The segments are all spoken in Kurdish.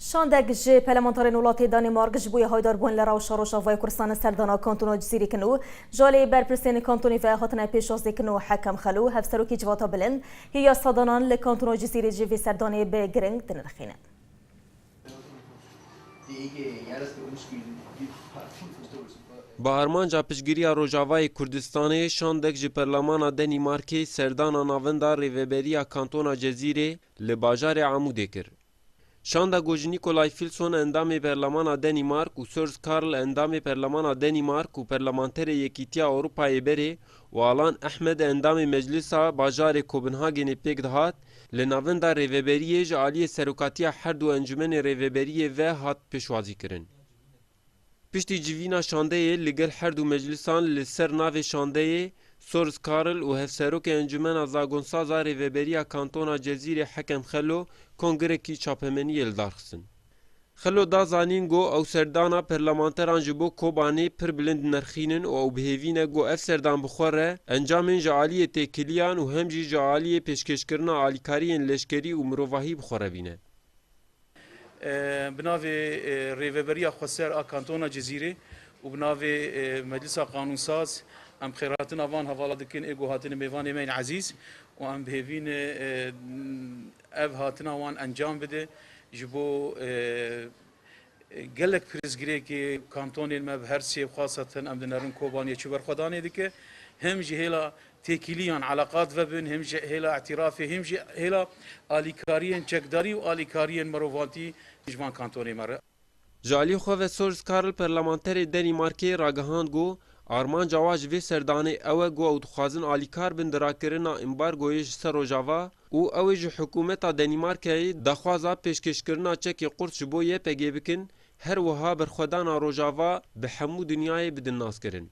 Şandek ji pelemantarên welatê Danîmark ji bo yê haydarbûn li rewşa Rojavayê Kurdistanê serdana kantona Cizîrê kin û ji aliyê berpirsên kantonê ve hatine pêşazîkin û Hekem Xelo, hevserokê Civata Bilind yê yasadanann li kantona Cizîrê jî vê serdanê bi giring dinirxînin. Bi armanca piştgiriya Rojavayê Kurdistanê, şandek ji perlamana Danîmarkê serdana navenda rêveberiya kantona Cezîrê li bajarê Amûdê kir. Şanda Goji Nikolay Filson endamê Perlemana Denîmark û Sörz Karl endamê Perlemana Denîmark û Perlemanterê Yekîtiya Ewropayê berê û Alan Ehmed endamê Meclisa bajarê Kopenhagenê pêk dihat, li navenda rêveberiyê ji aliyê serokatiya her du encûmenê rêveberiyê ve hat pêşwazîkirin. Piştî civîna şandeyê li gel her du meclisan li ser navê şandeyê, Sorz Karl û Hevserokê Encumena Zagonsaz a Rêveberiya Kantona Cezîrê Hekem Xelo kongirekî çapemeniyê li dar xistin. Xelo da zanîn got ew serdana perlemanteran ji bo Kobanê pir bilind dinerxînin û ew bi hêvî ne got ev serdan bi xwe re encamên ji aliyê têkiliyan û hem jî ji aliyê pêşkêşkirina alîkariyên leşkerî û mirovahî bi xwe re bîne. Bi navê Rêveberiya Xweser a Kantona Cizîrê û bi navê Meclisa Qanunsaz em xêrhatina van hevala dikin ê guhatine mêvanê me yên ezîz û em bihêvîn ev hatina wan encam bide ji bo gelek pirsgirêkê kantonên me bi her sê xwasa din em dinerin Kobaniyê çi berxwedanê dike him ji hêla Têkiliyan, eleqat vebin him ji hêla îtîrafê him jî hêla alîkariyên çekdarî û alîkariyên mirovantî ji van kantonê me re. Ji alî xwe ve Sors Karl perlemanterê Denîmarkê ragihand ku armanca wan ji vê serdanê ew e ku ew dixwazin alîkar bin di rakirina îmbargoyê ji ser Rojava û ew ê ji hikûmeta Denîmarkeyê daxwaza pêşkêşkirina çekê qurt ji bo YPG bikin, her wiha berxwedana Rojava bi hemû dinyayê bidin naskirin.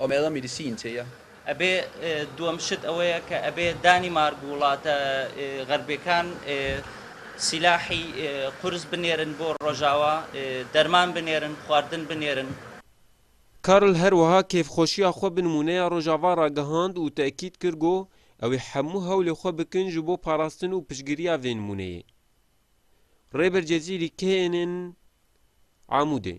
Omega Medicine tê ya. Ebê duem şit ewe ye ke ebê Danîmark û welate xerbêkan sîlahî qurs binêrin bo Rojawa, derman binêrin, xwardin binêrin. Karl her wiha kêfxweşiya xwe bi nimûneya Rojava ragihand û tekîd kir ku ew ê hemû hewlê xwe bikin ji bo parastin û piştgiriya vê nimûneyê. Rêber Cezîrî kê ên ên Amûdê.